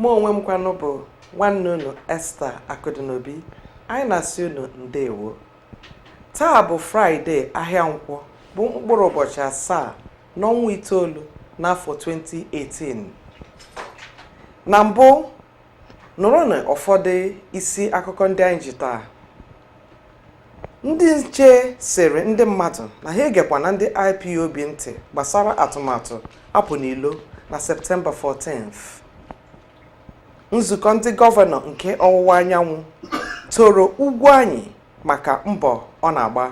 mụ onwe m kwanụ bụ nwanne unu Esther Akụdịnobi anyị na-asị unu ndewo taa bụ fraịde ahịa nkwọ bụ mkpụrụ ụbọchị asaa n'ọnwa itoolu n'afọ 2018 na mbụ nụrụnụ ụfọdụ isi akụkọ ndị anyị ji taa ndị nche sịrị ndị mmadụ na ha egekwana ndị ipob ntị gbasara atụmatụ apụ n'ilo na septemba 14th nzukọ ndị gọvanọ nke ọwụwa anyanwụ toro Ugwuanyị maka mbọ ọ na-agba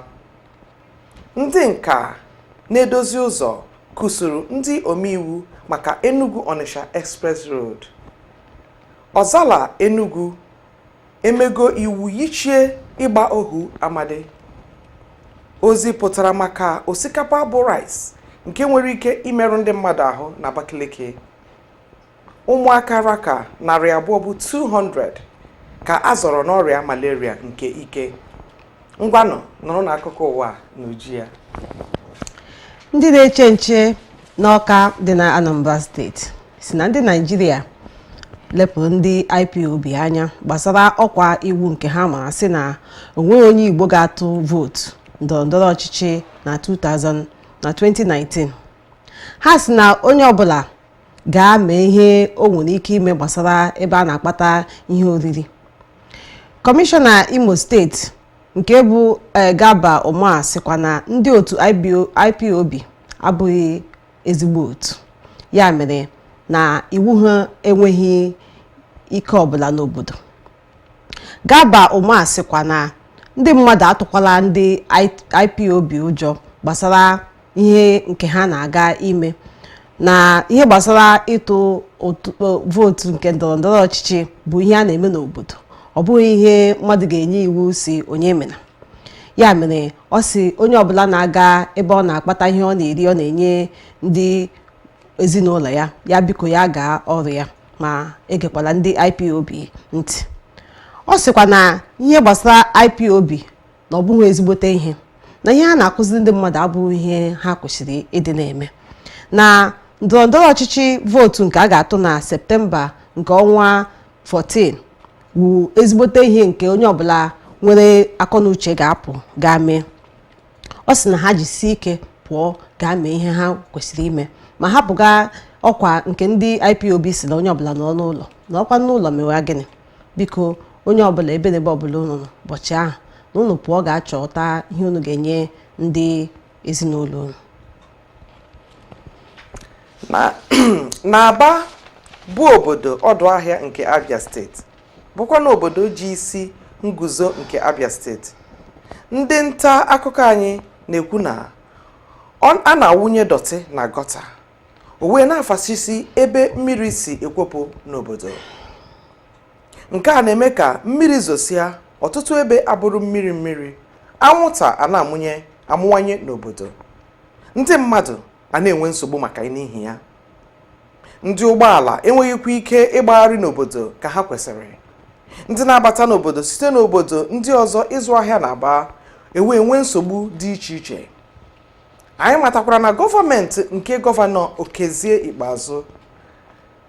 ndị nka na-edozi ụzọ kụsuru ndị omeiwu maka enugu onitsha express road ọzala enugu emego iwu yichie ịgba ohu amadị ozi pụtara maka osikapa bụ rice nke nwere ike imerụ ndị mmadụ ahụ na Abakaliki ụmụaka ra ka narị abụọ bụ 200 ka a zọrọ n'ọrịa malaria nke ike ngwanụ nụrụnụ akụkọ ụwa n'uju ya ndị na-eche nche n'Ọka dị na anambra steeti sị na ndị naijiria lepụrụ ndị ipob anya gbasara ọkwa iwu nke ha mara sị na o nweghị onye igbo ga-atụ vootu ndọrọ ndọrọ ọchịchị na 2000 na 2019 ha sị na onye ọbụla gaa mee ihe o nwere ike ime gbasara ebe a na-akpata ihe oriri kọmishọna imo steeti nke bụ eh, Garba Umar sịkwa na ndị otu ipob abụghị ezigbo otu ya mere na iwu ha enweghị ike ọbụla n'obodo Garba Umar sịkwa na ndị mmadụ atụkwala ndị IPOB ụjọ gbasara ihe nke ha na-aga ime na ihe gbasara ịtụ vootu nke ndọrọndọrọ ọchịchị bụ ihe a na-eme n'obodo ọ bụghị ihe mmadụ ga-enye iwu sị onye emena ya mere ọ sị onye ọbụla na-aga ebe ọ na-akpata ihe ọ na-eri ọ na-enye ndị ezinụlọ ya ya biko ya gaa ọrụ ya ma egekwala ndị IPOB ntị ọ sịkwa na ihe gbasara IPOB na ọ bụghị ezigbote ihe na ihe ha na-akụziri ndị mmadụ abụghị ihe ha kwesịrị ịdị na-eme na ndọrọndọrọ ọchịchị vootu nke a ga-atụ na septemba nke ọnwa 14 wu ezigbote ihe nke onye ọbụla nwere akọnuche ga-apụ gaa mee ọ sị na ha jisie ike pụọ gaa mee ihe ha kwesịrị ime ma hapụga ọkwa nke ndị IPOB si na onye ọbụla nọ n'ụlọ nọkwa n'ụlọ mewa gịnị biko onye ọbụla ebe na ebe ọbụla unu nọ ụbọchị ahụ na unu pụọ gaa chọta ihe unu ga-enye ndị ezinụlọ unu na Aba bụ obodo ọdụ ahịa nke abia steeti bụkwa na obodo ji isi nguzo nke Abia steeti ndị nta akụkọ anyị na-ekwu na ọ- a na-awụnye dọtị na gọta o wee na-afasisi ebe mmiri si ekwopụ n'obodo nke a na-eme ka mmiri zosia ọtụtụ ebe abụrụ mmiri mmiri anwụnta a na-amụnye amụwanye n'obodo ndị mmadụ a na-enwe nsogbu maka n'ihi ya ndị ụgbọala enweghịkwa ike ịgbagharị n'obodo ka ha kwesịrị ndị na-abata n'obodo site n'obodo ndị ọzọ ịzụ ahịa n'Aba e wee nwee nsogbu dị iche iche anyị matakwara na gọọmenti nke gọvanọ okezie ikpeazụ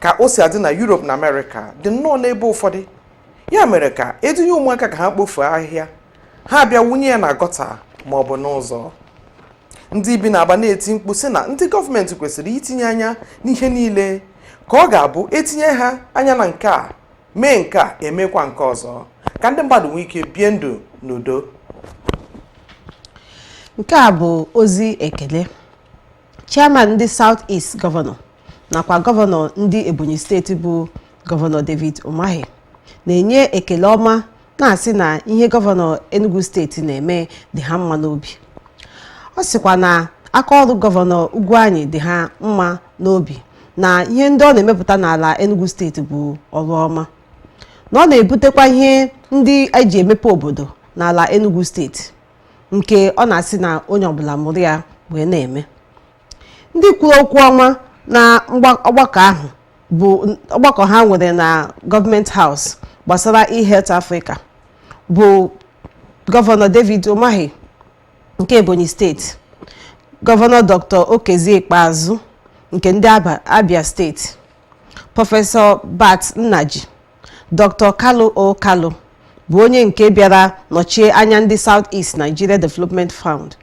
ka o si adị na Europe na Amerịka dị nnọọ n'ebe ụfọdụ ya mere ka e dunye ụmụaka ka ha kpofuo ahịhịa ha abịa wụnye ya na gọta ma ọ bụ n'ụzọ ndị bi n'Aba na-eti mkpu sị na ndị gọọmenti kwesịrị itinye anya n'ihe niile ka ọ ga-abụ etinye ha anya na nke a mee nke a emekwa nke ọzọ ka ndị mmadụ nwee ike bie ndụ n'udo nke a bụ ozi ekele chairman ndị South East gọvanọ nakwa gọvanọ ndị Ebonyi steeti bụ gọvanọ David Umahi na-enye ekele ọma na-asị na ihe gọvanọ Enugu steeti na-eme dị ha mma n'obi ọ sịkwa na aka ọrụ gọvanọ Ugwuanyi dị ha mma n'obi na ihe ndị ọ na-emepụta n'ala Enugu steeti bụ ọrụ ọma na ọ na-ebutekwa ihe ndị e ji emepe obodo n'ala Enugu steeti nke ọ na-asị na onye ọbụla mụrụ ya wee na-eme ndị kwuru okwu ọnwa na mgba- ọgbakọ ahụ bụ ọgbakọ ha nwere na Government House gbasara eHealth Africa bụ gọvanọ David Umahi nke Ebonyi steeti gọvanọ Dr. Okezie Ikpeazụ nke ndị Aba- Abia steeti prọfesọ Bart Nnaji Dr. Kalu O Kalu bụ onye nke bịara nọchie anya ndị South East Nigeria Development Fund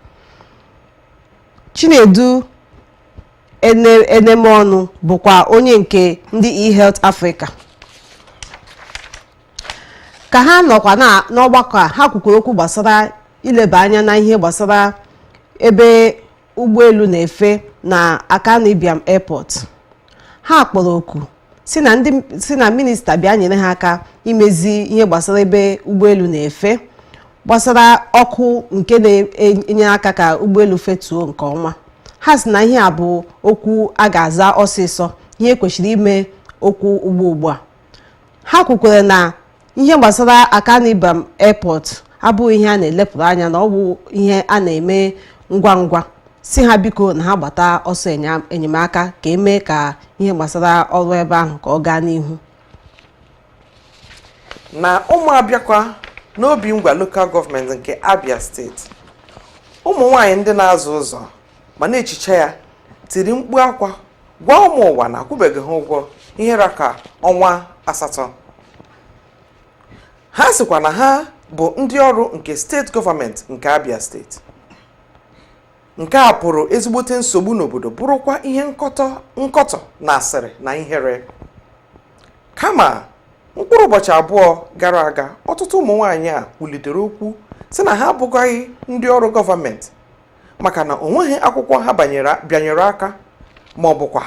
Chinedu Ene- Enemeọnụ bụkwa onye nke ndị eHealth Africa ka ha nọkwa na- n'ọgbakọ a ha kwukwuru okwu gbasara ileba anya na ihe gbasara ebe ụgbọelu na-efe na Akanu Ibiam Airport ha kpọrọ oku si na ndị si na minista bịa nyere ha aka imezi ihe gbasara ebe ụgbọelu na-efe gbasara ọkụ nke na-enye aka ka ụgbọelu fetuo nke ọma ha si na ihe a bụ okwu a ga-aza ọsịsọ ihe kwesịrị ime okwu ugbu ugbu a ha kwukwara na ihe gbasara akanu ibiam airport abụghị ihe a na-elepụrụ anya na ọ bụ ihe a na-eme ngwa ngwa si ha biko na ha gbata ọsọ enya- enyemaka ka e mee ka ihe gbasara ọrụ ebe ahụ ka ọ gaa n'ihu na ụmụobiakwa n'obingwa lokal gọọmenti nke abia steeti ụmụ nwanyị ndị na-aza ụzọ ma na-ehicha ya tiri mkpu akwa gwa ụmụ ụwa na a kwụbeghị ha ụgwọ ihe ra ka ọnwa asatọ ha sịkwa na ha bụ ndị ọrụ nke steeti gọọmenti nke abia steeti nke a pụrụ ezigbote nsogbu n'obodo bụrụkwa ihe nkọtọ nkọtọ na asịrị na ihere kama mkpụrụ ụbọchị abụọ gara aga ọtụtụ ụmụ nwaanyị a kwulitere okwu sị na ha abụghị ndị ọrụ gọọmenti maka na o nweghị akwụkwọ ha bịanyere aka ma ọ bụkwa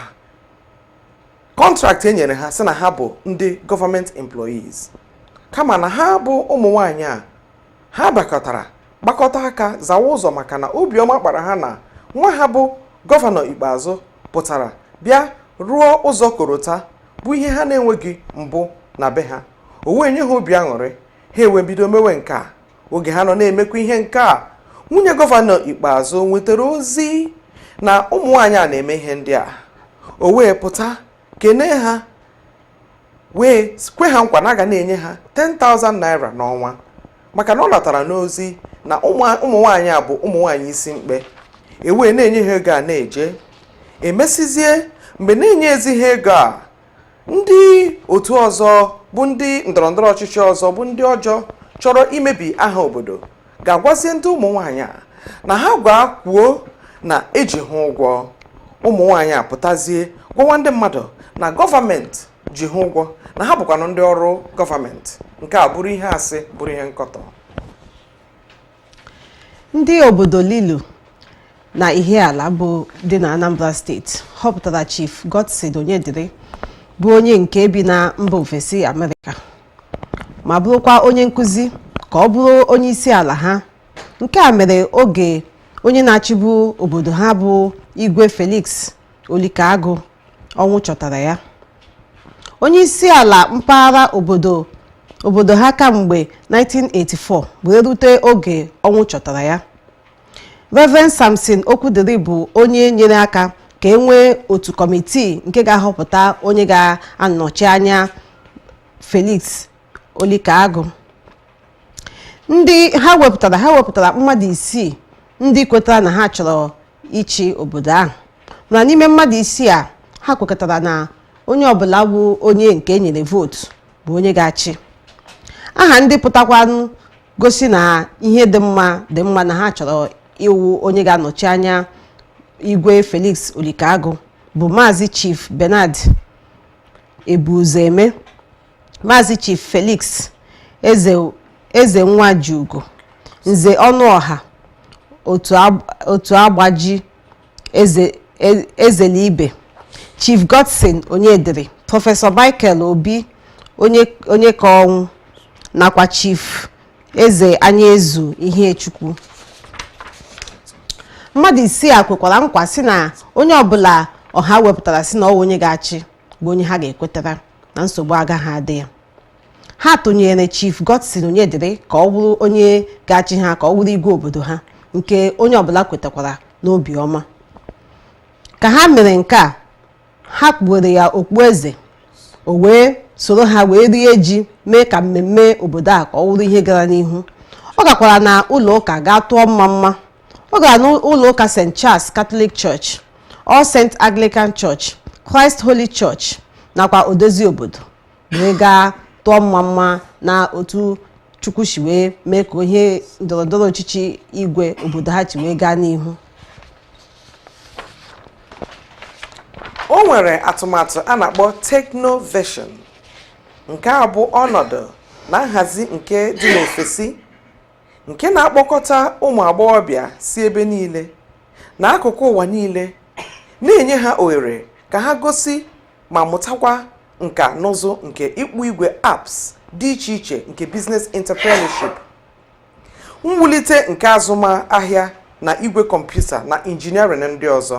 kọntraktị e nyere ha sị na ha bụ ndị gọọmenti employees kama na ha bụ ụmụ nwanyị a ha bakọtara gbakọta aka zawa ụzọ maka na obiọma kpara ha na nwa ha bụ gọvanọ ikpeazụ pụtara bịa rụọ ụzọ korota bụ ihe ha na-enweghị mbụ na be ha o wee nye ha obi aṅụrị ha ewee bido mewe nke a oge ha nọ na-emekwa ihe nke a nwunye gọvanọ ikpeazụ nwetara ozi na ụmụ nwaanyị a na-eme ihe ndị a o wee pụta kene ha wee kwe ha nkwa na a ga na-enye ha 10,000 naira n'ọnwa maka na ọ natara n'ozi na ụmụ nwaanyị a bụ ụmụ nwaanyị isi mkpe e wee na-enye ha ego a na-eje e mesịzie mgbe na-enyezi ha ego a ndị otu ọzọ bụ ndị ndọrọndọrọ ọchịchị ọzọ bụ ndị ọjọọ chọrọ imebi aha obodo gaa gwazie ndị ụmụ nwaanyị a na ha gaa kwuo na e ji ha ụgwọ ụmụ nwaanyị a pụtazie gwawa ndị mmadụ na gọọmenti ji ha ụgwọ na ha bụkwanụ ndị ọrụ gọọmenti nke a bụrụ ihe asị bụrụ ihe nkọtọ ndị obodo lilu na ihiala bụ dị na anambra steeti họpụtara chief godson onyedịrị bụ onye nke bi na mba ofesi amerịka ma bụrụkwa onye nkụzi ka ọ bụrụ onye isi ala ha nke a mere oge onye na-achịbu obodo ha bụ igwe felix olikagụ ọnwụ chọtara ya onye isi ala mpaghara obodo obodo ha kamgbe 1984 wee rute oge ọnwụ chọtara ya Reverend Samson Okwudiri bụ onye nyere aka ka e nwee otu kọmitii nke ga-ahọpụta onye ga-anọchi anya Felix Olikaagụ ndị ha wepụtara ha wepụtara mmadụ isii ndị kwetara na ha chọrọ ịchị obodo ahụ mana n'ime mmadụ isii a ha kwekọtara na onye ọbụla wụ onye nke e nyere vootu bụ onye ga-achị aha ndị pụtakwanụ gosi na ihe dị mma dị mma na ha chọrọ ịwụ onye ga-anọchi anya igwe Felix Olikaagụ bụ maazị Chief Bernard Ebuzoeme Maazị Chief Felix Eze Eze Nwajiugo Nze Ọnụọha otu agb- otu agbaji eze e- ezelibe Chief Godson Onyedịrị Prọfesọ Michael Obi Onye Onyekaọnwụ nakwa Chief Eze Anyaezu Ihechukwu mmadụ isii a kwekwara nkwa sị na onye ọbụla ọha wepụtara sị na ọ wụ onye ga-achị bụ onye ha ga-ekwetara na nsogbu agaghị adị ya ha tụnyere chief godson onyedịrị ka ọ wụrụ onye ga-achị ha ka ọ wụrụ igwe obodo ha nke onye ọbụla kwetakwara n'obi ọma ka ha mere nke a ha kpuwere ya okpueze o wee soro ha wee rie ji mee ka mmemme obodo a ka ọ wụrụ ihe gara n'ihu ọ gakwara na ụlọ ụka gaa tụọ mma mma ọ gara n'ụlọ ụka st charles catholic church all saint anglican church christ holy church nakwa odozi obodo wee gaa tụọ mma mma na otu chukwu si wee mee ka ihe ndọrọndọrọ ọchịchị igwe obodo ha si wee gaa n'ihu o nwere atụmatụ a na-akpọ technovation nke a bụ ọnọdụ na nhazi nke dị n'ofesi nke na-akpọkọta ụmụ agbọghọbịa si ebe niile na akụkụ ụwa niile na-enye ha ohere ka ha gosi ma mụtakwa nka na ụzụ nke ịkpụ igwe apps dị iche iche nke business entrepreneurship mwulite nke azụmahịa na igwe kọmputa na injiniarịn ndị ọzọ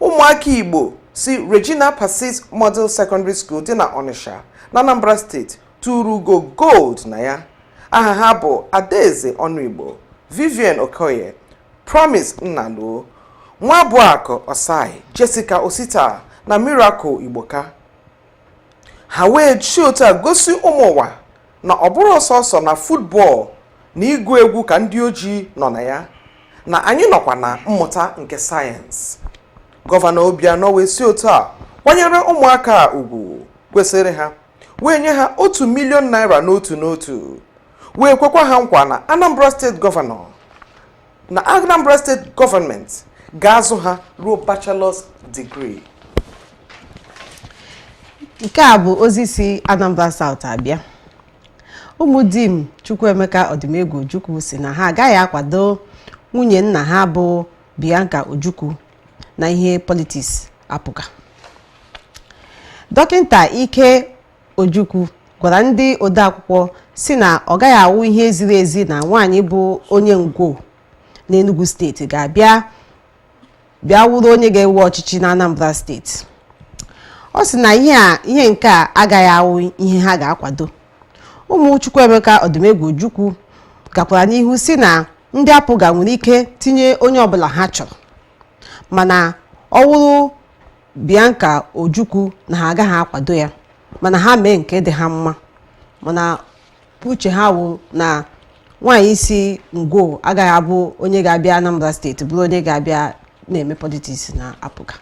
ụmụaka igbo si regina pacis model secondary school dị na ọnịsha na anambra steeti tụrụ ugo gold na ya aha ha bụ adaeze ọnụigbo vivian okoye promise nnaluo nwabụakụ ossai jessica osita na miracle igboka ha wee si otu a gosi ụmụ ụwa na ọ bụrọ sọsọ na futbọl na ịgụ egwu ka ndị ojii nọ na ya na anyị nọkwa na mmụta nke sayensị gọvanọ Obianọ wee si otu a kwanyere ụmụaka a ugwu kwesịrị ha wee nye ha otu milion naira n'otu n'otu wee kwekwa ha nkwa na Anambra steeti gọvanọ na Anambra steeti gọọmenti ga-azụ ha ruo bachelọs digrii nke a bụ ozi si Anambra South abịa ụmụ Dim Chukwuemeka Odumegwu Ojukwu sị na ha agaghị akwado nwunye nna ha bụ Bianca Ojukwu na ihe politiks APGA dọkịta Ike Ojukwu gwara ndị odeakwụkwọ sị na ọ gaghị awụ ihe ziri ezi na nwaanyị bụ onye Ngwo n'Enugu steeti ga-abịa bịa wụrụ onye ga-ewe ọchịchị na Anambra steeti ọ sị na ihe a ihe nke a agaghị awụ ihe ha ga-akwado ụmụ Chukwuemeka Odumegwu Ojukwu gakwara n'ihu sị na ndị APGA nwere ike tinye onye ọbụla ha chọrọ mana ọ wụrụ Bianca Ojukwu na ha agaghị akwado ya mana ha mee nke dị ha mma mana uche ha wụ na nwaanyị si Ngwo agaghị abụ onye ga-abịa Anambra steeti bụrụ onye ga-abịa na-eme politiks na APGA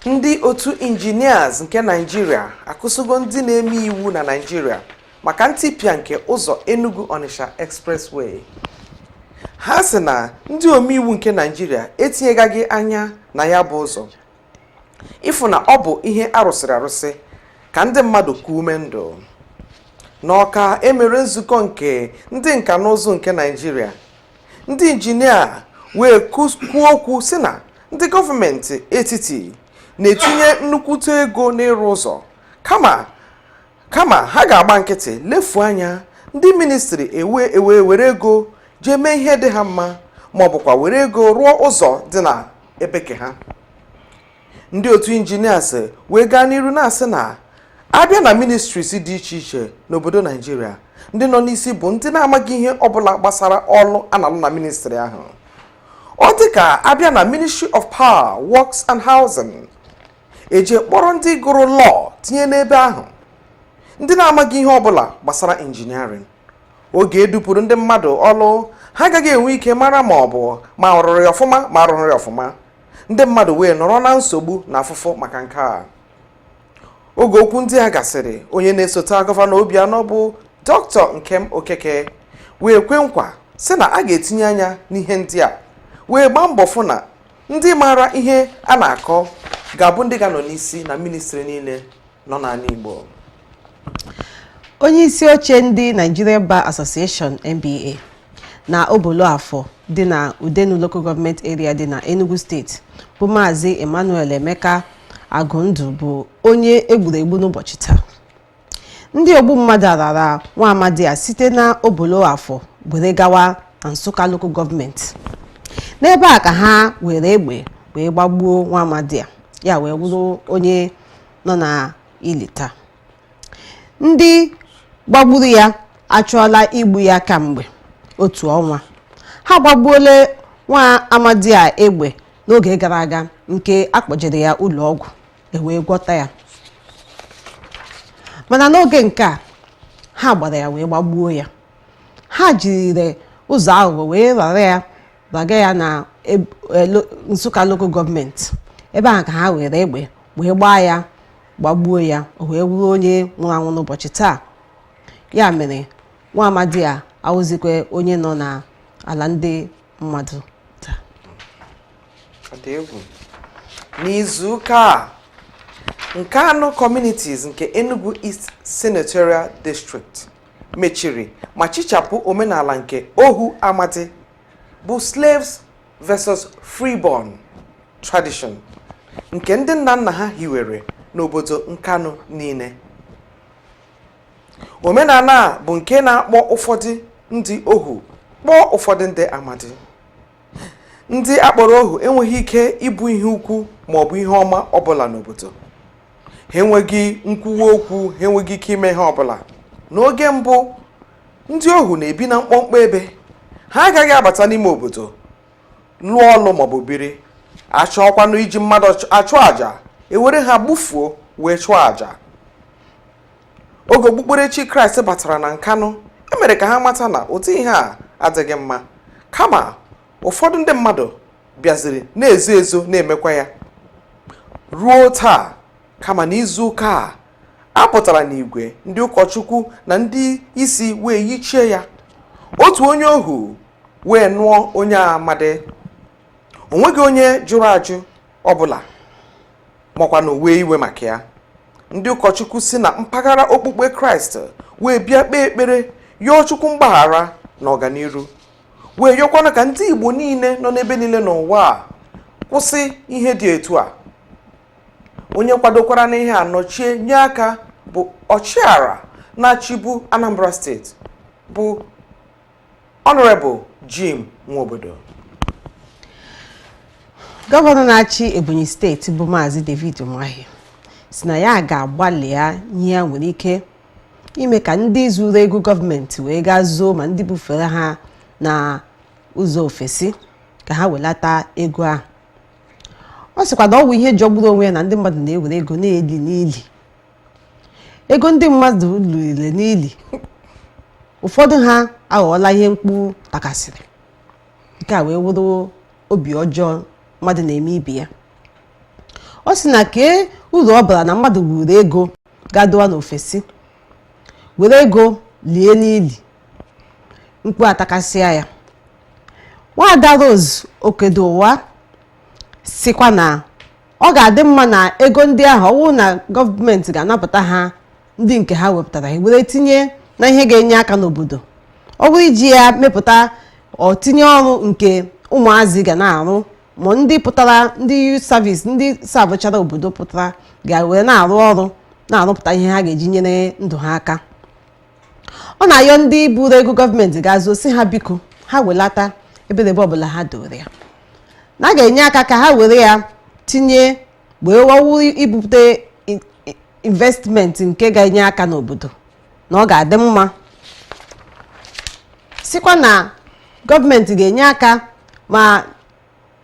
ndị otu injinias nke naijiria akụsịgo ndị na-eme iwu na naijiria maka ntipịa nke ụzọ Enugu Onitsha Expressway ha sị na ndị omeiwu nke Naịjirịa etinyegaghị anya na ya bụ ụzọ ịfụ na ọ bụ ihe a rụsịrị arụsị ka ndị mmadụ kuo ume ndụ n'Ọka e mere nzukọ nke ndị nka na ụzụ nke Naịjirịa ndị injinia wee kus- kwuo okwu sị na ndị gọọmenti etiti na-etinye nnukwute ego n'ịrụ ụzọ kama kama ha ga-agba nkịtị lefuo anya ndị ministri ewe ewe were ego jee mee ihe dị ha mma ma ọ bụkwa were ego rụọ ụzọ dị na ebe ke ha ndị otu injinias wee gaa n'iru na-asị na a bịa na ministries dị iche iche n'obodo naijiria ndị nọ n'isi bụ ndị na-amaghị ihe ọbụla gbasara ọlụ a na-alụ na ministri ahụ ọ dị ka a bịa na ministry of power works and housing eji kpọrọ ndị gụrụ lọọ tinye n'ebe ahụ ndị na-amaghị ihe ọbụla gbasara injiniarịn oge e dupụrụ ndị mmadụ ọlụ ha agaghị enwe ike mara ma ọ bụ ma a rụrụ ya ọfụma ma a rụrọ ya ọfụma ndị mmadụ wee nọrọ na nsogbu na afụfụ maka nke a oge okwu ndị a gasịrị onye na-esote gọvanọ Obianọ bụ dọkịta Nkem Okeke wee kwe nkwa sị na a ga-etinye anya n'ihe ndị a wee gbaa mbọ fụ na ndị maara ihe a na-akọ ga-abụ ndị ga-anọ n'isi na ministri niile nọ n'ala Igbo onye isi oche ndị Nigerian Bar Association NBA na Obolo Afọ dị na Udenu Local Government Area dị na Enugu steeti bụ Maazị Emmanuel Emeka Agụndụ bụ onye e gburu egbu n'ụbọchị taa ndị ogbu mmadụ a rara nwa amadi a site na obolo afọ were gawa na nsụka lokal gọọmenti n'ebe a ka ha were egbe wee gbagbuo nwa amadi a ya wee wụrụ onye nọ na ili taa ndị gbagburu ya achọọla igbu ya kamgbe otu ọnwa ha gbagbuola nwa amadi a egbe n'oge gara aga nke a kpọjere ya ụlọ ọgwụ e wee gwọta ya mana n'oge nke a ha gbara ya wee gbagbuo ya ha jiri ụzọ aghụghọ wee rara ya raga ya na e, Nsụka lokal gọọmenti ebe ahụ ka ha were egbe wee gbaa ya gbagbuo ya o wee wụrụ onye nwụrụ anwụ n'ụbọchị taa ya mere nwa amadi a awụzikwa onye nọ n'ala ndị mmadụ n'izuụka a Nkanu communities nke Enugu East Senatorial District mechiri ma chichapụ omenala nke ohu amadi bụ slaves versus freeborn tradition nke ndị nna nna ha hiwere n'obodo Nkanu niile omenala a bụ nke na-akpọ ụfọdụ ndị ohu kpọọ ụfọdụ ndị amadi ndị a kpọrọ ohu enweghị ike ịbụ ihe ukwu ma ọ bụ ihe ọma ọbụla n'obodo ha enweghị nkwuwa okwu ha enweghị ike ime ihe ọbụla n'oge mbụ ndị ohu na-ebi na mkpọmkpọ ebe ha agaghị abata n'ime obodo lụọ ọlụ maọbụ biri a chọọkwanụ iji mmadụ achụ àjà e were ha gbufuo wee chụọ àjà oge okpukperechi kraịst batara na nkanụ e mere ka ha mata na ụdị ihe a adịghị mma kama ụfọdụ ndị mmadụ bịaziri na-ezo ezo na-emekwa ya ruo taa kama na izu ụka a a pụtara n'igwe ndị ụkọchukwu na ndị isi wee yichie ya otu onye ohu wee nụọ onye amadi o nweghị onye jụrụ ajụ ọbụla makwanụ wee iwe maka ya ndị ụkọchukwu si na mpaghara okpukpe kraịst wee bịa kpee ekpere yọọ chukwu mgbaghara na ọganiru wee yọkwanụ ka ndị igbo niile nọ n'ebe niile n'ụwa a kwụsị ihe dị etu a onye kwadokwara n'ihe a nọchie nye aka bụ ọchịagha na-achịbu anambra steeti bụ Honorable Jim Nwobodo gọvanọ na-achị Ebonyi steeti bụ maazị David Umahi sị na ya ga-agbalịa ihe ya nwere ike ime ka ndị zuru ego gọọmenti wee gaa zoo ma ndị bufere ha na ụzọ ofesi ka ha welata ego ahụ ọ sịkwa na ọ bụ ihe jọgburu onwe ya na ndị mmadụ na-ewere ego na-eli n'ili ego ndị mmadụ liri n'ili ụfọdụ ha aghọọla ihe mkpu takasịrị nke a wee wụrụ obi ọjọọ mmadụ na-eme ibe ya ọ sị na kee uru ọ bara na mmadụ buru ego gaa dowa n'ofesi were ego lie n'ili mkpu atakasịa ya nwaada Rose Okedowa sikwa na ọ ga-adị mma na ego ndị ahụ ọ wụrụ na gọọmenti ga-anapụta ha ndị nke ha wepụtara were tinye na ihe ga-enye aka n'obodo ọ bụrụ iji ya mepụta ọtinye ọrụ nke ụmụazị ga na-arụ ma ndị pụtara ndị youth service ndị sabụchara obodo pụtara ga-were na-arụ ọrụ na-arụpụta ihe ha ga-eji nyere ndụ ha aka ọ na-ayọ ndị buru ego gọọmenti gaa zoo sị ha biko ha welata ebe ọbụla ha dowere ya na a ga-enye aka ka ha were ya tinye wee wawu ibute investment nke ga-enye aka n'obodo na ọ ga-adị mma sikwa na gọọmenti ga-enye aka ma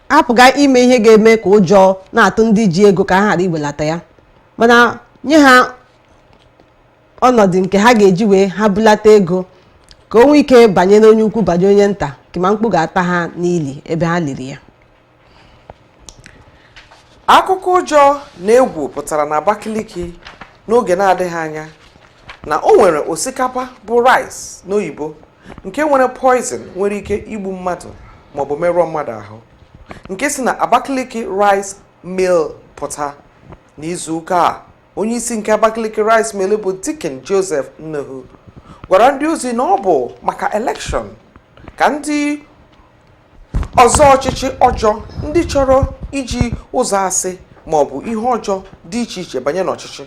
hapụga ime ihe ga-eme ka ụjọ na-atụ ndị ji ego ka ha ghara iwelata ya mana nye ha ọnọdụ nke ha ga-eji wee ha bulata ego ka o nwee ike banyere onye ukwu banyere onye nta kama mkpu ga-ata ha n'ili ebe ha liri ya akụkọ ụjọ na egwu pụtara na Abakaliki n'oge na-adịghị anya na o nwere osikapa bụ rice n'oyibo nke nwere poison nwere ike igbu mmadụ maọbụ merụọ mmadụ ahụ nke si na Abakaliki rice mill pụta n'izu ụka a onye isi nke Abakaliki Rice Mill bụ Deacon Joseph Ununu gwara ndị ozi na ọ bụ maka elekshọn ka ndị ọzọ ọchịchị ọjọọ ndị chọrọ iji ụzọ asị ma ọ bụ ihe ọjọọ dị iche iche banye n'ọchịchị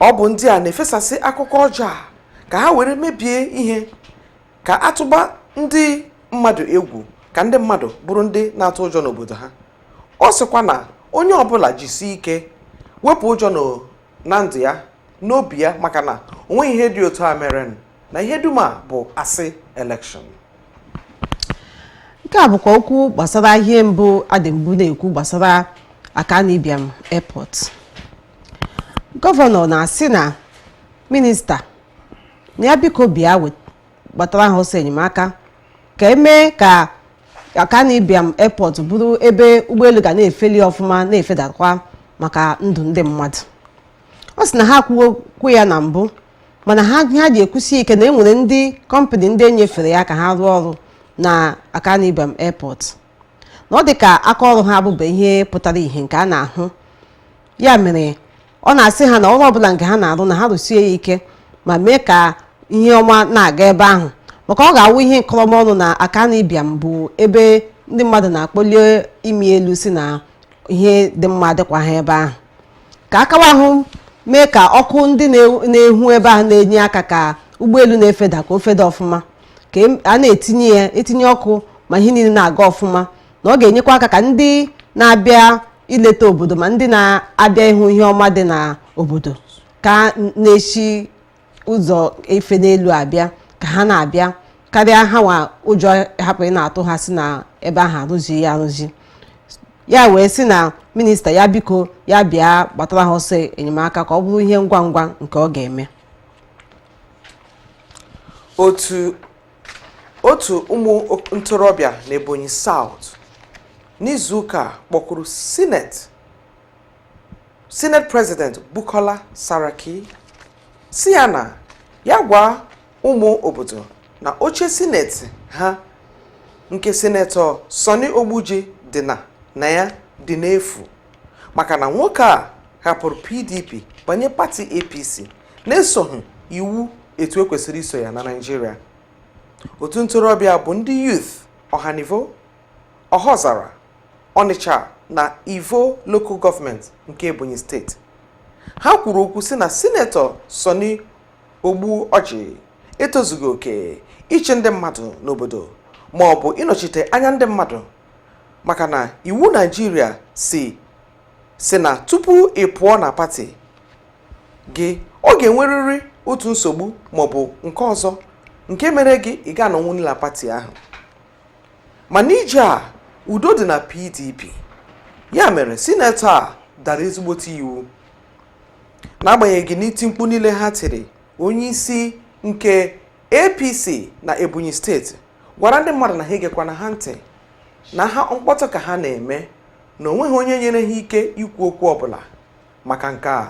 ọ bụ ndị a na-efesasị akụkọ ọjọọ a ka ha were mebie ihe ka a tụba ndị mmadụ egwu ka ndị mmadụ bụrụ ndị na-atụ ụjọ n'obodo ha ọ sịkwa na onye ọbụla jisie ike wepụ ụjọ na ndụ ya n'obi ya maka na onweghị ihe dị otu a mere na ihe dum a bụ asị elekshọn nke a bụkwa okwu gbasara ihe mbụ a dị mbụ na-ekwu gbasara Akanu Ibiam Airport gọvanọ na-asị na minista na ya biko bịa wet- gbatara ha ọsọ enyemaka ka e mee ka Akanu Ibiam Airport bụrụ ebe ụgbọelu ga na-efeli ọfụma na-efedakwa maka ndụ ndị mmadụ ọ sị na ha kwuo okwu ya na mbụ mana ihe ha ji ekwusi ike na e nwere ndị kọmpanị ndị e nyefere ya ka ha rụọ ọrụ na Akanu Ibiam Airport na ọ dị ka aka ọrụ ha abụba ihe pụtara ihe nke a na-ahụ ya mere ọ na-asị ha na ọrụ ọbụla nke ha na-arụ na ha rụsie ya ike ma mee ka ihe ọma na-aga ebe ahụ maka ọ ga-awụ ihe nkọrọma ọnụ na Akanu Ibiam bụ ebe ndị mmadụ na-akpọli imi elu sị na ihe dị mma adịkwaha ebe ahụ ka akawa ahụ mee ka ọkụ ndị na-enwu ebe ahụ na-enye aka ka ụgbọelu na-efeda ka o feda ọfụma ka e, a na-etinye ya etinye ọkụ ma ihe niile na-aga ọfụma na ọ ga-enyekwa aka ka ndị na-abịa ileta obodo ma ndị na-abịa ịhụ ihe ọma dị na obodo ka ha na-esi ụzọ ife n'elu abịa ka ha na-abịa karịa ha nwa ụjọ hapụ ị na-atụ ha sị na ebe ahụ arụzi ya arụzi ya wee sị na minista ya biko ya bịa gbatara ha ọsọ enyemaka ka ọ bụrụ ihe ngwa ngwa nke ọ ga-eme otu otu ụmụ ntorobịa n'Ebonyi South n'izuụka a kpọkuru sineti sineti prezident Bukola Saraki sị ya na ya gwa ụmụ obodo na oche sineti ha nke sinetọ Sonni Ogbuoji dị na na ya dị n'efu maka na nwoke a hapụrụ PDP banye pati APC na-esoghị iwu etu e kwesịrị iso ya na Naịjirịa otu ntorobịa bụ ndị youth ọhanivo ọhọzara ọnịcha na ivo lokal gọọmenti nke ebonyi steeti ha kwuru okwu sị na sinetọ Sonni Ogbuoji etozughị oke ịchị ndị mmadụ n'obodo ma ọ bụ ịnọchite anya ndị mmadụ maka na iwu Naịjirịa sị sị na tupu ị pụọ na pati gị ọ ga-enwerịrị otu nsogbu maọbụ nke ọzọ nke mere gị ị ga-anọnwu na pati ahụ mana ije a udo dị na pdp ya mere sinetọ a dara ezigbote iwu n'agbanyeghị n'iti mkpu niile ha tiri onye isi nke apc na ebonyi steeti gwara ndị mmadụ na ha egekwana ha ntị na ha mkpọtụ ka ha na-eme na o nweghị onye nyere ha ike ikwu okwu ọbụla maka nke a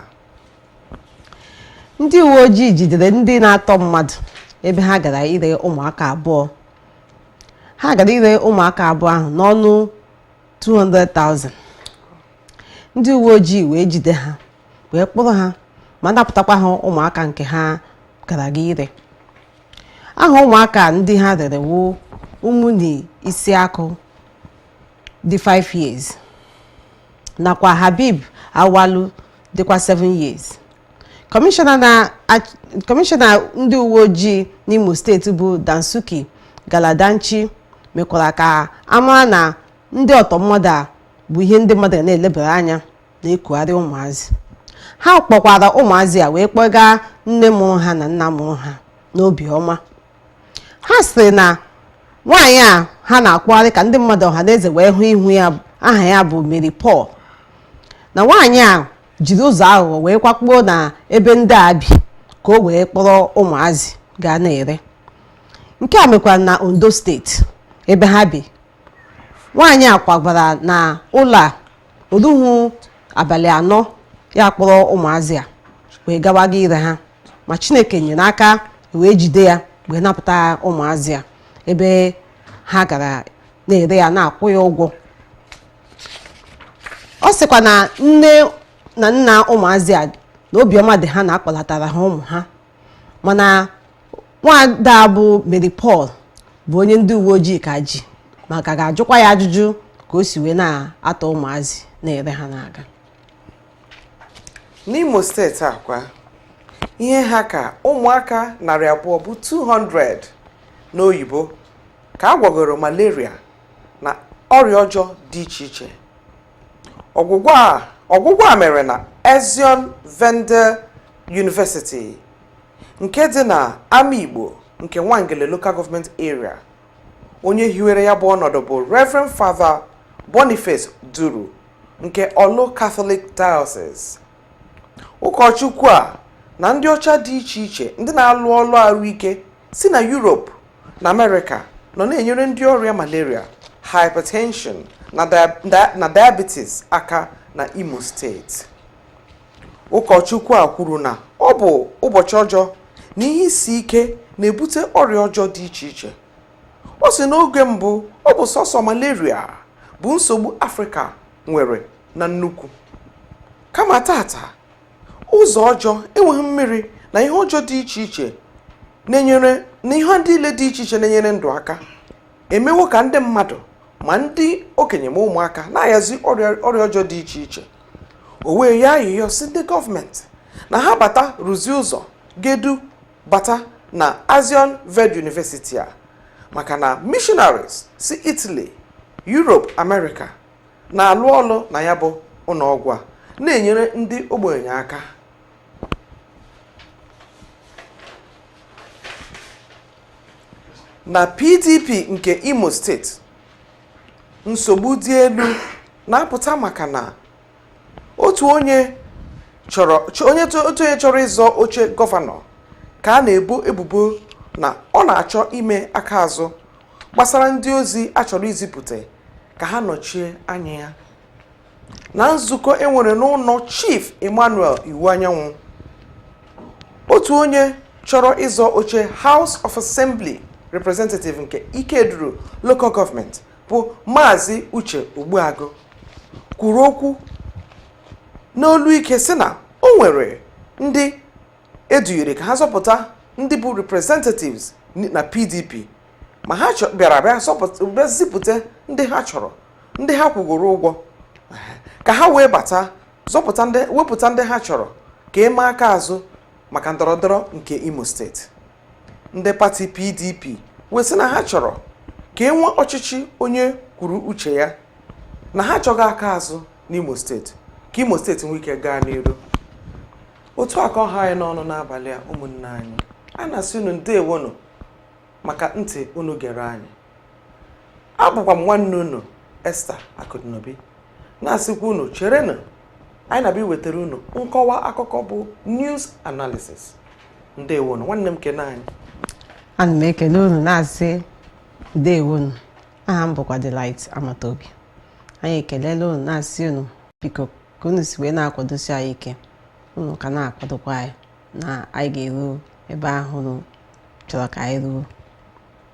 ndị uwe ojii jidere ndị na-atọ mmadụ ebe ha gara ire ụmụaka abụọ ha gara ire ụmụaka abụọ ahụ n'ọnụ 200,000 ndị uwe ojii wee jide ha wee kpụrụ ha ma napụtakwa ha ụmụaka nke ha gara ga ire aha ụmụaka ndị ha rere wu Umuni Isiaku dị 5 years nakwa Habib Awalu dịkwa 7 years kọmishọna ndị uwe ojii n'Imo steeti bụ Dansuki Galadanchi mekwara ka a mara na ndị ọtọ mmadụ a bụ ihe ndị mmadụ ga na-elebara anya na-ekugharị ụmụazị ha kpọkwara ụmụazị a wee kpọga nne mụrụ ha na nna mụrụ ha n'obiọma ha sịrị na nwaanyị a ha na-akpụgharị ka ndị mmadụ ọha na eze wee hụ ihu ya aha ya bụ Mary Paul na nwaanyị a jiri ụzọ aghụghọ wee kwakpuo na ebe ndị a bi ka o wee kpọrọ ụmụazị ga na-ere nke a mekwara na Ondo steeti ebe ha bi nwaanyị a kwagara na ụlọ a o ruhu abalị anọ ya kpọrọ ụmụazị a wee gawaga ire ha ma chineke nyere aka e wee jide ya wee napụta ụmụazị a ebe ha gara na-ere ya na-akwụ ya ụgwọ ọ sịkwa na nne na nna ụmụazị a na obiọma dị ha na a kpọlatara ha ụmụ ha mana nwaada a bụ Mary Paul bụ onye ndị uwe ojii ka ji ma ka ga-ajụkwa ya ajụjụ ka o si wee na-atọ ụmụazị na-ere ha na-aga N'Imo steeti a kwa ihe ha ka ụmụaka narị abụọ bụ 200 n'oyibo ka a gwọgoro malaria na ọrịa ọjọọ dị iche iche ọgwụgwọ a mere na Azione Verde University nke dị na Amaigbo nke Nwangele Local Government Area onye hiwere ya bụ ọnọdụ bụ Reverend Father Boniface Duru nke Orlu Catholic Diocese ụkọchukwu a na ndị ọcha dị iche iche ndị na-alụ ọlụ arụike si na Europe na Amerịka nọ na-enyere ndị ọrịa malaria hypertension na diabetes aka na Imo steeti ụkọchukwu a kwuru na ọ bụ ụbọchị ọjọọ na ihe isi ike na-ebute ọrịa ọjọọ dị iche iche ọ sị n'oge mbụ ọ bụ sọsọ malaria bụ nsogbu afrịka nwere na nnukwu kama tata ụzọ ọjọọ enweghị mmiri na ihe ọjọọ dị iche iche na-enyere na ihe niile dị iche iche na-enyere ndụ aka emewo ka ndị mmadụ ma ndị okenye ma ụmụaka na-ayazi ọrịa ọjọọ dị iche iche o wee yọọ ayịyọ sị ndị gọọmenti na ha bata rụzie ụzọ ga-edu bata na azione verde university a maka na missionaries si italy europe america na-alụ ọlụ na ya bụ ụnọọgwụ a na-enyere ndị ogbenye aka na pdp nke imo steeti nsogbu dị elu na-apụta maka na otu onye chọrọ chọ- onye to- otu onye chọrọ ịzọ oche gọvanọ ka a na-ebo ebubo na ọ na-achọ ime aka azụ gbasara ndị ozi a chọrọ izipụta ka ha nọchie anya ya na nzukọ e nwere n'ụnọ chief emmanuel iwuanyanwụ otu onye chọrọ ịzọ oche house of assembly representative nke ikeduru local government bụ maazị uche ogbuagụ kwuru okwu n'olu ike sị na o nwere ndị e dunyere ka ha zọpụta ndị bụ representatives na pdp ma ha chọ- bịara bịa zọpụta- bịa zipụta ndị ha chọrọ ndị ha kwụgoro ụgwọ ka ha wee bata zọpụta ndị wepụta ndị ha chọrọ ka e mee aka azụ maka ndọrọndọrọ nke imo steeti ndị pati pdp wee sị na ha chọrọ ka e nwee ọchịchị onye kwuru uche ya na ha achọghị aka azụ n'imo steeti ka imo steeti nwee ike gaa n'iru otu a ka ọ ha anyị n'ọnụ n'abalị a ụmụnne anyị a na-asị unu ndewonụ maka ntị unu gere anyị abụkwa m nwanne unu Esther Akudinobi na-asịkwa unu cherenụ anyị na-abịa iwetara unu nkọwa akụkọ bụ news analysis ndewonu nwanne m nke nwaanyị ana m ekele unu na-asị ndewonu aha m bụkwa Delight Amatobi anyị ekelela unu na-asị unu biko ka unu si wee na-akwadosi anyị ike unu ka na-akwadokwa anyị na anyị ga-eru ebe ahụ unu chọrọ ka anyị ruo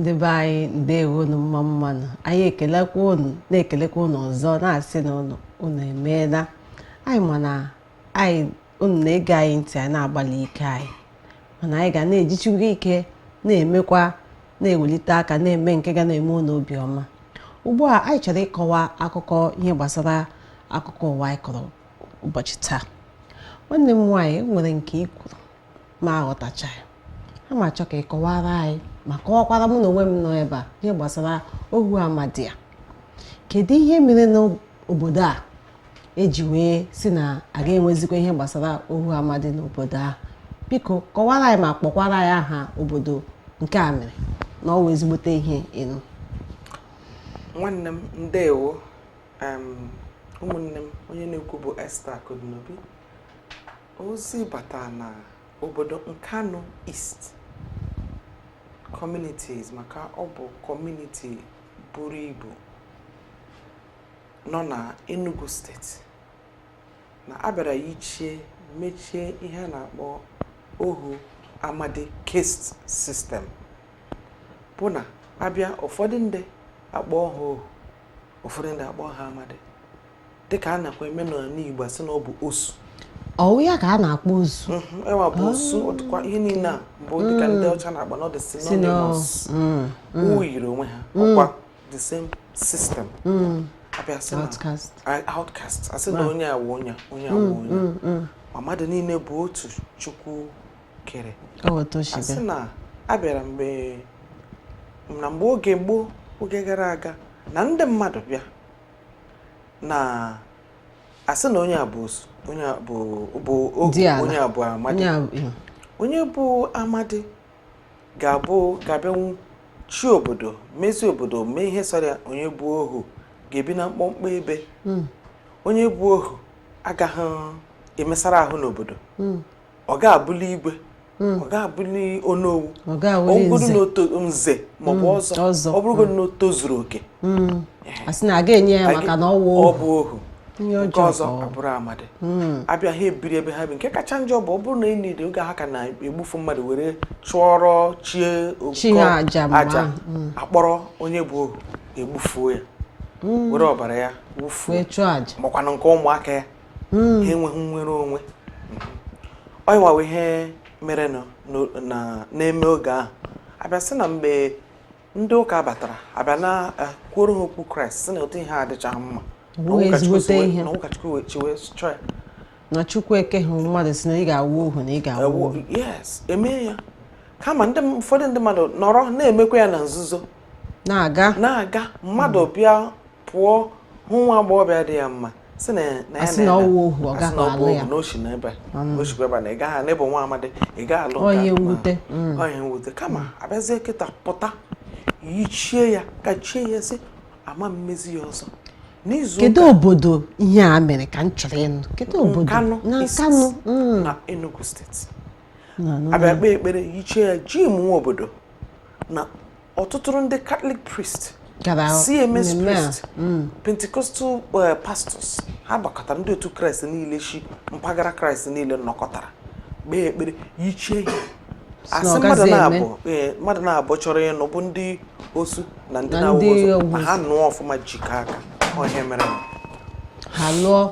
ndị be anyị ndewonu mma mmanụ anyị ekelekwa unu na-ekelekwa unu ọzọ na-asị na unu unu emeela anyị ma na anyị unu na-ege anyị ntị anyị na-agbalị ike anyị mana anyị ga na-ejichikwu ike na-emekwa na-ewelite aka na-eme nke ga na-eme unu obi ọma ugbu a anyị chọrọ ịkọwa akụkọ ihe gbasara akụkọ ụwa anyị kọrọ ụbọchị taa nwanne m nwaanyị e nwere nke ị kwuru m aghọtachaghị a m achọ ka ị kọwara anyị ma kọwakwara mụ na onwe m nọ ebe a ihe gbasara ohu amadi a kedu ihe mere n'obodo a e ji wee sị na a ga-enwezikwa ihe gbasara ohu amadi n'obodo ahụ biko kọwara anyị ma kpọkwara anyị aha obodo nke a mere na ọ wụ ezigbote ihe ịnụ nwanne m ndewo em, ụmụnne m onye na-ekwu bụ Esther Akụdịnobi ozi bata na obodo Nkanu East communities maka ọ bụ community buru ibu nọ na Enugu State na a bịara yichie mechie ihe a na-akpọ ohu amadi caste system bụ na a bịa ụfọdụ ndị a kpọọ ha ohu ụfọdụ ndị a kpọọ ha amadi dịka a nakwa eme n'ala Igbo a sị na ọ bụ osu ọ wụ ya ka a na-akpọ osu Mhm, enwa bụ osu ọ dịkwa ihe niile a bụ dịka ndị ọcha na-akpọ na ọ dị synonymous o yiri onwe ha ọkwa the same system hmm. a bịa sị na outcast a sị na onye a wụ onye onye a wụ hmm, onye hmm, ma mmadụ niile bụ otu chukwu kere a sị na a bịara mgbe na mgbe oge gboo oge gara aga na ndị mmadụ bịa na-asị na onye a bụ osu onye a bụ amadi onye bụ amadi ga-abụ ga-abịanwu chịa obodo mezie obodo mee ihe sọrọ ya onye bụ ohu ga-ebi na mkpọmkpọ ebe hmm. onye bụ ohu agaghị emesara ahụ n'obodo hmm. ọ ga-abụli igwe hmm. ọ ga-abụli onowu ọ bụrụ na nze maọbụ ọzọ ọ bụrụgodu na o tozuru oke hmm. a sị na a ga-enye ya maka na ọ bụ ohu nke ọzọ abụrụ amadi hmm. a bịa ha ebiri ebe ha bi nke kacha njọ bụ ọ bụrụ na enyi dị oge ha ka na-egbufu mmadụ were chụọrọ chie okụkọ aja hmm. a kpọrọ onye bụ ohu e gbufuo ya hmm. were ọbara ya chụọ aja makwanụ nke ụmụaka ya ha enweghị nnwere onwe ọyịwawa ihe mere na-eme oge ahụ a bịa sị na mgbe ndị ụka batara a bịa na eh, kwuoro ha okwu kraịst sị na ụdị ihe a adịchaghị mma na ụkọchukwu wee chiwe chọọ ya na chukwu ekehụ mmadụ sị na ị ga-awụ ohu na ị ga-awụ ohu yes e mee ya kama ndị ụfọdụ ndị mmadụ nọrọ na-emekwa ya na nzuzo na-aga na-aga mmadụ bịa pụọ hụ nwa agbọghọ bịa dị ya mma sị na na ya na ọ wụ ohu ọ gaghị alụ ya na o shi n'ebe mm. o shikwa ebe na ị gaghị n'ebe nwa amadi ị gaghị alụ onye mwute mm. onye mwute kama a bịazie kịta pụta yichie ya kachie ya sị a ma emezi ya ọzọ kedu obodo ihe a mere ka m chọrọ ịnụ kedu obodo na Nkanụ mm. na Enugu steeti a bịa kpee ekpere yichie ya ji mụnwa obodo na ọtụtụrụ ndị Catholic priest CMS priest mm. Pentecostal eh, pastors ha gbakọtara ndị otu kraịst niile shi mpaghara kraịst niile nọkọtara kpee ekpere yichie ihe a sị eh, mmadụ naabọ chọrọ ịnụ bụ ndị osu na ndị na-awụ ma ha nụọ ọfụma jikọ aka ọ ihe a mere ha lụọ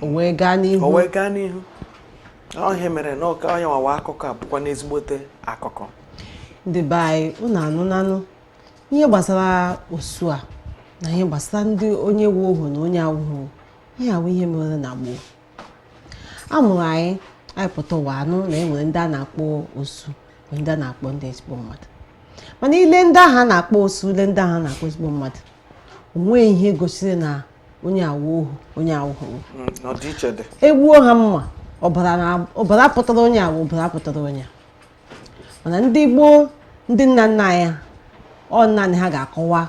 o wee gaa n'ihu o wee gaa n'ihu ọ ihe a mere na nkanụ onye nwawa akụkọ a bụkwanụ ezigbote akụkọ ndị be anyị unu anụnanụ ihe gbasara osu a na ihe gbasara ndị onye wụ ohu na onye awụghị ihe a wụ ihe mere na gboo a mụrụ anyị anyị pụta ụwa anụ na e nwere ndị a na-akpọ osu nwee ndị a na-akpọ ndị ezigbo mmadụ mana i lee ndị ahụ a na-akpọ osu i lee ndị ahụ a na-akpọ ezigbo mmadụ o nweghị ihe gosiri na onye a wụ ohu onye a wụ ohu mm, e gbuo ha mma ọbara pụtara onye a wụ ọbara pụtara onye mana ndị gboo ndị nna nna anyị ọ naanị ha ga-akọwa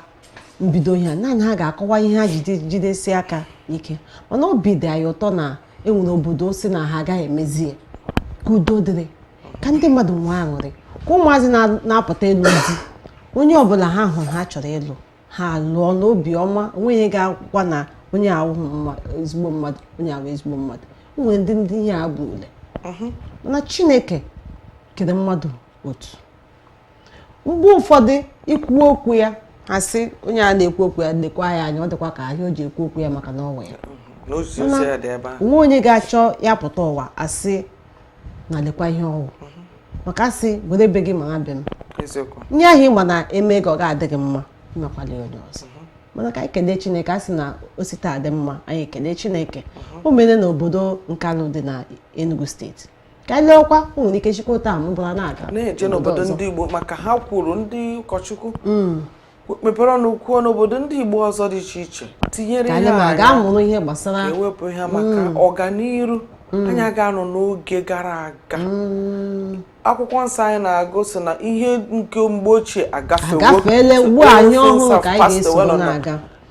mbido ihe naanị ha ga-akọwa ihe ha ji jidesi aka ike mana obi dị anyị ụtọ na e nwere obodo sị na ha agaghị emezi ya ka udo dịrị ka ndị mmadụ nwee aṅụrị ka ụmụazị na-apụta ịlụ di onye ọbụla ha hụrụ ha chọrọ ịlụ ha lụọ n'obi ọma o nweghị onye ga-ekwukwa na onye a wụ ezigbo mmadụ onye a wụ ezigbo mmadụ nwere ndị ndị ihe a bụ ule mhm. na chineke kere mmadụ otu mgbe ụfọdụ i kwuo okwu ya ha sị onye a na-ekwu okwu ya lekwa ya anya ọ dịkwa ka ihe o ji ekwu okwu ya maka na o nwere mhm. o nwe onye ga-achọ ya pụta ụwa a sị na lekwa ihe ọ wụ mhm. maka a sị were be gị mara be m ihe ahụ ị ma na e mee gị ọ ga-adị gị mma i mekwala onye ọzọ mhm. mana ka anyị kelee chineke a sị na o site taa dị mma anyị ekele chineke mhm. o mere na obodo nkanụ dị na enugu steeti ka anyị leekwa o nwere ike shikwa otu a bụrụ na-aga na-eje n'obodo ndị igbo maka ha kwuru ndị ụkọchukwu mm. mepere ọnụ kwuo n'obodo ndị Igbo ọzọ dị iche iche tinyere ihe e wepụ ihe a maka mm. ọganiru mm. anyị agaghị anọ n'oge gara aga mm. akwụkwọ nsọ anyị na-agụ sị na ihe nke mgbe ochie agafewo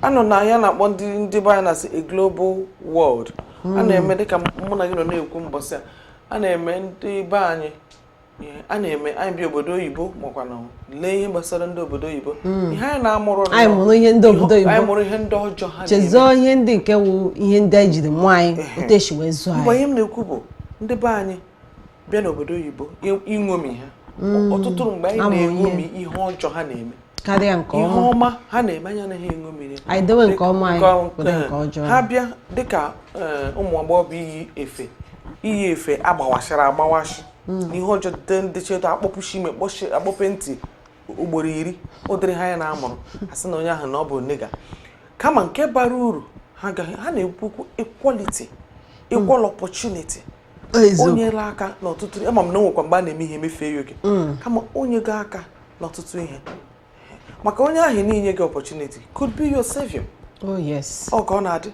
a nọ na ihe a na-akpọ ndị ndị be anyị na-asị a global world a na-eme dịka mụ na gị nọ na-ekwu mbọsị a a na-eme ndị be anyị a na-eme anyị bi obodo oyibo makwa na lee ihe gbasara ndị obodo oyibo hmm. ihe anyị na-amụrụ anyị mụrụ ihe ndị obodo oyibo anyị mụrụ ihe ndị ọjọọ ha chezọọ ihe ndị nke wụ ihe ndị anyị jiri mụọ anyị otu e si wee zụọ anyị mgbe ihe m na-ekwu bụ ndị be anyị bịa n'obodo oyibo iṅomi ha hmm. ọtụtụ mgbe anyị na-eṅomi ihe ọjọọ ha na-eme karịa nke ọma ihe ọma ha na-eme anyị anaghị eṅomi ya anyị dewe nke ọma anyị ewere nke ọjọọ ha bịa dịka eh, ụmụ agbọghọ bụ iyi efe iyi efe agbawasịrị agbawasị hmm. ihe ọjọọ dịte ndị cheta akpọpushie imi akpọpu ntị ugboro iri ụdịrị ha anyị na-amụrụ a sị na onye ahụ na ọ bụ nigga kama nke bara uru ha na-ekwu okwu equality equal opportunity o nyela aka n'ọtụtụ ama m na e nwekwa mgbe a na-eme ihe emefee ya oke mm. kama o nyega aka n'ọtụtụ ihe maka onye ahụ i nyega opportunity could be your savior oh yes ọ ka ọ na-adị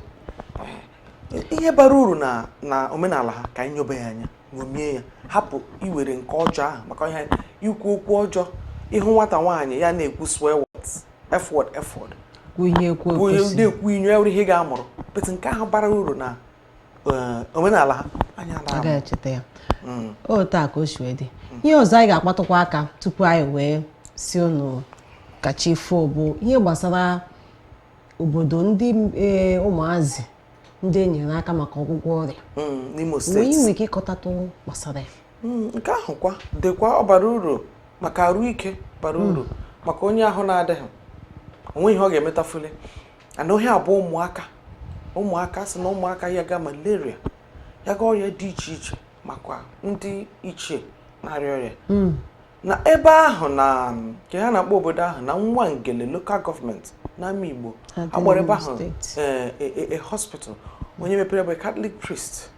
ihe bara uru na omenala ha ka anyị nyobe ya anya ṅomie ya hapụ iwere nke ọjọọ ahụ maka ihe ikwu okwu ọjọọ ị hụ nwata nwaanyị ya na-ekwu swear words f word f word na-ekwu inyo ya were ihe ga-amụrụ but nke ahụ bara uru na eh, omenala ha anya ya hmm. otu a ka o si wee dị ihe ọzọ anyị ga-akpatụkwa aka tupu anyị wee sị unu ka chi fo bụ ihe gbasara obodo ndị e, ụmụazị ndị e nyere aka maka ọgwụgwọ ọrịa hmm, n'Imo steeti i nwere ike ịkọtatụ gbasara ya hmm, nke ahụ kwa dịkwa ọ bara uru maka arụ ike bara hmm. uru maka onye ahụ na-adịghị o nweghị ihe ọ ga-emetafuli and ihe a bụ ụmụaka ụmụaka a sị na ụmụaka yaga malaria yaga ọrịa dị iche iche makwa ndị ichie na-arịa ọrịa na ebe ahụ na nke ha na-akpọ obodo ahụ na Nwangele local government n'Amaigbo a kpọrọ ebe ahụ eh, eh, eh, a hospital onye mepere bụ Catholic priest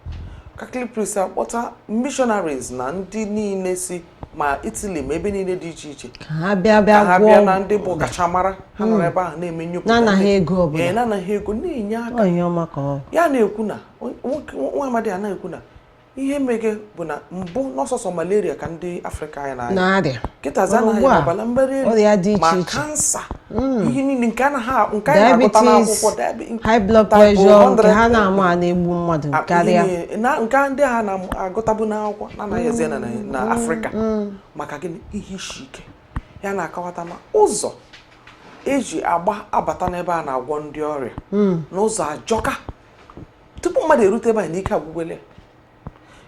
Catholic priest akpọta missionaries na ndị niile si ma Italy ma ebe niile dị iche iche ka ha bịa na ndị bụ ọkachamara ha nọrọ hmm. ebe ahụ na-eme nnyopụta na-anaghị ego ọbụla na-anaghị ego na-enye aka ya na-ekwu na nwa amadi a na-ekwu na ihe mege bụ na mbụ na ọ sọsọ malaria ka ndị afrịka anyị na-arịa kịtazi a na-arịa ọbara mgbali elu ma kansa hmm. ihe niile nke anaghị nke anyị na-agụta n'akwụkwọ high blood pressure nke ha na-ama a na-egbu mmadụ karịa nke ndị ha na-agụtabu n'akwụkwọ na a na-ahụzi na hmm. afrịka hmm. maka gịnị ihe isi ike ha na-akọwata ma ụzọ e si agba abata n'ebe a na-agwọ ndị ọrịa na ụzọ ajọka tupu mmadụ erute ebe a na ike agwụgwele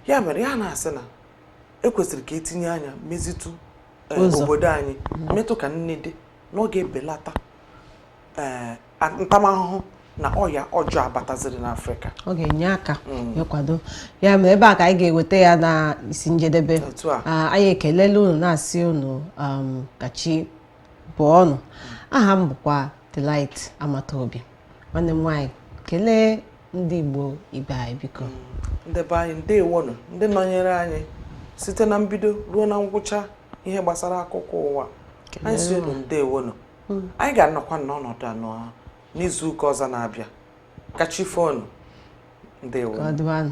ya mere ya na-asị na ekwesịrị ka etinye anya mezitụ eh, obodo anyị metụ ka nne dị na ọ ga-ebelata eh, ntamahụhụ na ọya ọjọọ abataziri n'afrịka ọ ga-enye aka mm. ịkwado ya mere ebe a ka anyị ga-eweta ya na isi njedebe ah, anyị ekelela unu na-asị unu um, ka chi bọọ nụ aha m bụkwa Delight Amataobi nwanne m nwaanyị kelee ndị Igbo ibe anyị biko ndị be anyị ndewonụ ndị nọnyere anyị site na mbido ruo na ngwụcha ihe gbasara akụkọ ụwa anyị sị unu ndewonụ hmm. anyị ga-anọkwa n'ọnọdụ anwa n'izu ụka ọzọ na-abịa ka chi fo nụ ndewonụ